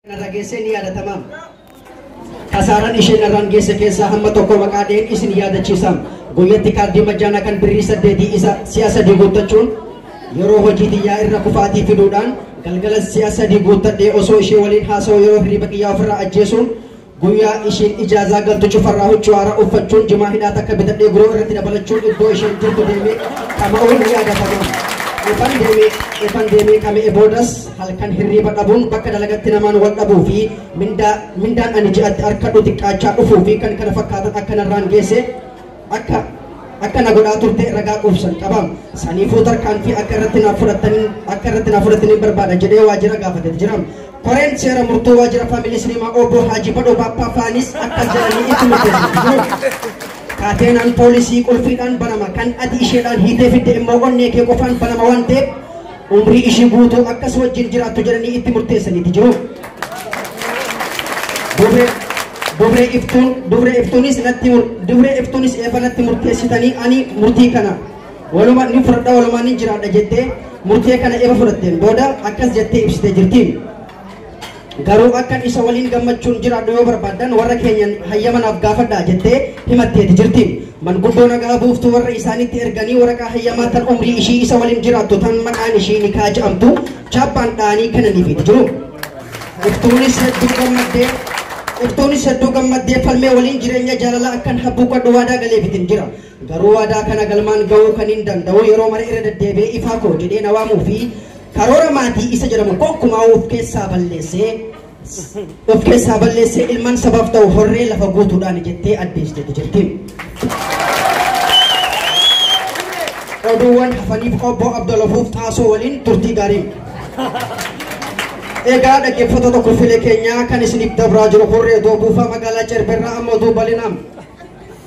narra geessee ni yaadatama. Kasaaraan ishee narraan geesse keessaa hamma tokko maqaa dheen isin yaadachiisa. Guyyatti kaardii majjaanaa kan birrii saddeetii isa si'a sadii guuttachuun yeroo hojii xiyyaa irra kufaatii fiduudhaan galgala si'a sadii guuttadhee osoo ishee waliin haasa'u yeroo hirriba xiyyaa ofirraa ajjeesuun Guyyaa ishiin ijaazaa galtu cufarraa huccuu haaraa uffachuun jimaa hidhaa takka bitadhee guroo irratti dabalachuun iddoo isheen jirtu deemee qama'uun ni yaadatama. Ifan deemee ifan deemee qama'e boodas halkan hirriiba dhabuun bakka dalagatti namaan wal dhabuu fi mindaa mindaan ani ji'atti harkadhu xiqqaachaa dhufuu fi kan kana fakkaatan akka narraan geesse akka akka na godhaa turte ragaa quubsan qaba. Saniifuu tarkaanfii akka irratti naaf fudhatanii akka irratti naaf fudhatanii barbaada jedhee waajjira gaafatee jira. Koreen seera murtoo waajjira faamilii siniimaa obbo Haajii Badhoo Baappaa faanis akka jiranii itti murteessanii jiru. Kaateenaan poolisii qulfiidhaan banama kan ati isheedhaan hiitee fidde immoo onnee kee qofaan banama waan ta'eef umrii ishii guutuu akka si wajjin jiraattu jedhanii itti murteessaniiti jiru. Dubree dubree iftuun dubree iftuunis natti mur- dubree iftuunis eefa natti murteessitanii ani murtii kana walumaa ni fudhadha walumaa ni jiraadha jettee murtee kana eefa fudhatteen booda akkas jettee ibsitee jirti. Garuu akkan isa waliin gammachuun jiraadhu yoo barbaaddan warra keenyan hayyama naaf gaafadhaa jettee himatteeti jirti. Manguddoo nagaa buuftuu warra isaaniitti erganii waraqaa hayyamaa tan umrii ishii isa waliin jiraattu tan maqaan ishii nikaa jedhamtu chaappaan dha'anii kennaniifiiti jiru. Iftuunis hedduu gammaddee Iftuunis hedduu gammaddee falmee waliin jireenya jaalalaa akkan habbuuqadhu waadaa galeefiitiin jira. Garuu waadaa kana galmaan gahuu kanin danda'u yeroo mara irra deddeebi'ee ifaa koo jedhee na waamuu fi karoora maatii isa jedhamu gonkumaa of keessaa balleessee of keessaa balleessee ilmaan sabaaf ta'u horree lafa guutuudhaan jettee addeessiteetti jirti. Oduuwwan hafaniif obbo Abdulafuuf Xaasoo waliin turtii gaarii. Egaa dhaggeeffattoota kurfilee keenyaa kan isiniif dabraa jiru horree doobuufaa magaalaa Cerberraa amma oduu bal'inaan.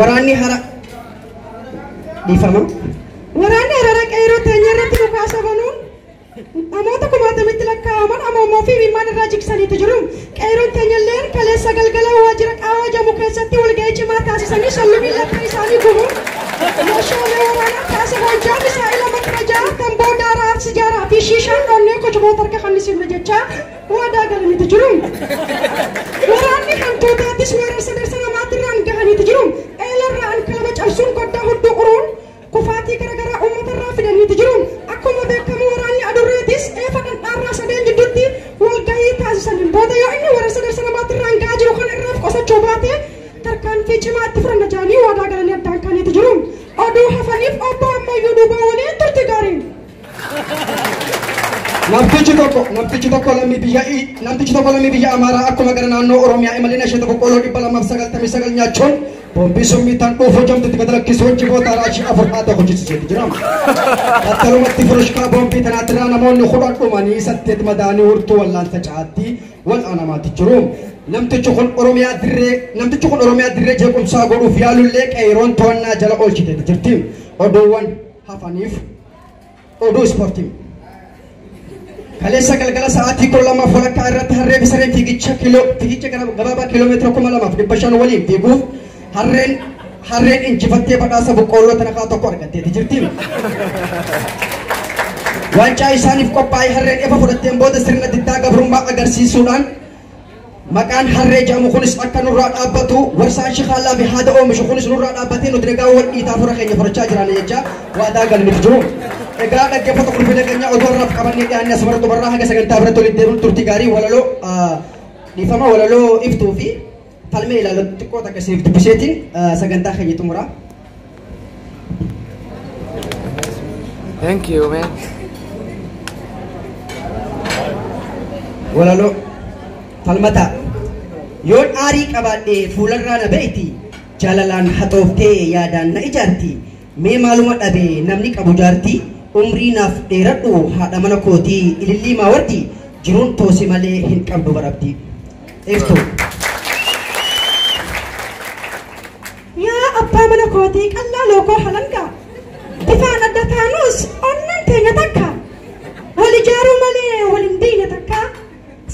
Waraanni hara dhiifama. Waraanni hararaa qeerroo teenya irratti dhukaasa banuun namoota kumaatamitti lakkaa'aman ammoo fi imimmaan irraa jiksaniitu jiru. Qeerroon teenya illee kaleessa galgala waajjira qaawaa jamu keessatti walga'ii cimaa taasisanii shallumii lafa isaanii gubuun meeshaalee waraanaa kaasa hojjaa misaa'ila matrajaa tamboo daaraa sijaaraa fi shiishaan dhonnee kochumoota harka kannisiifne jechaa Waadaa galaniiti jiru. Waraanni hantuutaatis weerara sadarsa namaatti irraan gahaniiti jiru. Eelarraa alkaaba cabsuun koddaa hudduu uruun kufaatii garaagaraa uummata irraa fidaniiti jiru. Akkuma beekamu waraanni adurreetis eefa dhandhaarraa sadeen jidduutti walgahii taasisaniin booda yoo inni weerara sadarsa namaatti irraan gahaa jiru kana irraaf qosachuu baate tarkaanfii cimaa itti fudhanna jedhanii waadaa galanii addaan kaaniiti jiru. Oduu hafaniif obbo ammayyuu duubaa waliin turti gaariin. Namtichi tokko namtichi tokko lammii biyya namtichi tokko lammii biyya Amaaraa akkuma gara naannoo Oromiyaa imalina ishee tokko qooloo dhibba lamaaf sagaltamii sagal nyaachuun boombii summii tan dhuufuu jamtitti gad lakkisuu jiboota raashii afur haata hojjisiisuutu jira. Battalumatti furushkaa boombii tanaatirraa namoonni kudhan dhumanii saddeet madaanii hurtuu wallaansa caatti wal'aanamaatti jiru. Namtichi kun Oromiyaa dirree namtichi kun Oromiyaa dirree jeequmsaa godhuuf yaalullee qeeroon to'annaa jala oolchiteetti jirti. Oduuwwan hafaniif oduu ispoortii. Kaleessa galgala sa'aatii kudha lamaaf walakkaa irratti harree fi sareen fiigicha kiiloo fiigicha gara- gabaabaa kiiloomeetira kuma lamaaf dhibba shan waliin fiiguuf harreen harreen injifattee badhaasa boqqoolloo tanakaa tokko argatteeti jirti. Waancaa isaaniif qophaa'e harreen efa fudhatteen booda sirna diddaa gabrummaa agarsiisuudhaan Maqaan harree jedhamu kunis akka nurraa dhaabbatu warsaan shikaallaa fi haada oomishu kunis nurraa dhaabbatee nuti nagaa wal dhiitaa fura keenya furachaa jiraanna jechaa waadaa galaniif jiru. Egaa dhaggeeffata qulfii nageenyaa odoo irraaf qabannee dhiyaannee asuma irratti barraa haga sagantaa biratti walitti deemuun turtii gaarii walaloo dhiifama walaloo iftuu fi Falmee ilaaloo xiqqoo takka isiniif dubbiseetiin sagantaa keenya xumuraa. Thank you, man. Walaloo falmataa yoon aarii qabaadhee fuularraa na ba'iti jaalalaan haxooftee yaadaan na ijaarti mee maaluma dhabee namni qabu jaarti umrii naaf dheeradhu haadha mana kootii ilillii maawarti jiruun toosi malee hin qabdu barabdi. Iftu. Yaa abbaa mana kootii qallaa lookoo halangaa bifaan adda taanus onneen teenya takka wal ijaaruu malee wal hin diine takka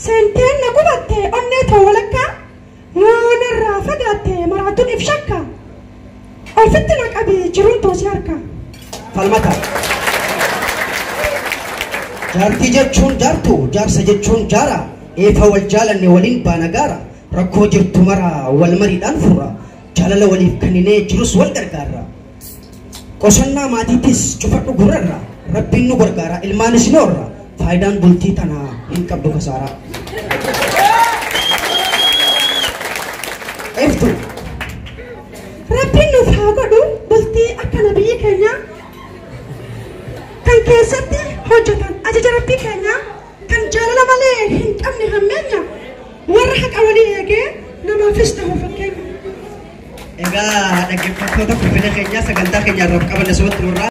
seenteen na gubatte onnee too walakkaa yoo narraa fagaatte maraatuun if shakka Ofitti na qabi jiruun too si harkaa. Falmata. Jaartii jechuun jaartu, jaarsa jechuun jaara. Eefa wal jaalanne waliin baana gaara. Rakkoo jirtu mara wal mariidhaan furra. Jaalala waliif kenninee jirus wal gargaarra. Qosannaa maatiitis cufadhu gurrarra. Rabbiin nu gargaara ilmaanis ni horra. Faayidaan bultii tana hin qabdu kasaaraa. Eftu. Rabbiin nuuf haa godhu bultii akka nabiyyi keenya kan keessatti hojjetan ajaja rabbii keenya kan jaalala malee hin qabne hammeenya warra haqa walii eegee namaafis ta'u fakkeenya. Egaa dhaggeeffattoota kubbina keenyaa sagantaa keenya irraa qabanne sobatti murraa.